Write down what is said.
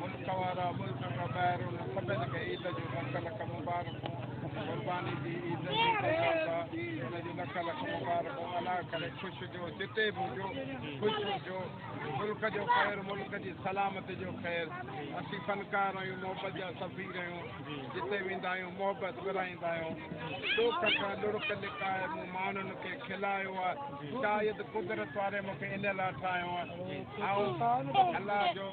ملڪ وارا ملڪ کان ٻاهر انهن سڀني کي عيد جون لک لک مبارڪون قرباني جي عيد جي مبارڪا ان جون لک لک مبارڪون ادا ڪري خوش هجو جتي به هجو خوش هجو ملڪ جو خير ملڪ جي سلامت جو خير اسين فنڪار آهيون محبت جا سفير آهيون جتي ويندا آهيون محبت ورائيندا آهيون ڏوک کان لڙڪ لڪائي مون ماڻهن کي کلايو آهي شايد قدرت واري مونکي ان لاء ٺاهيو آهي الله جو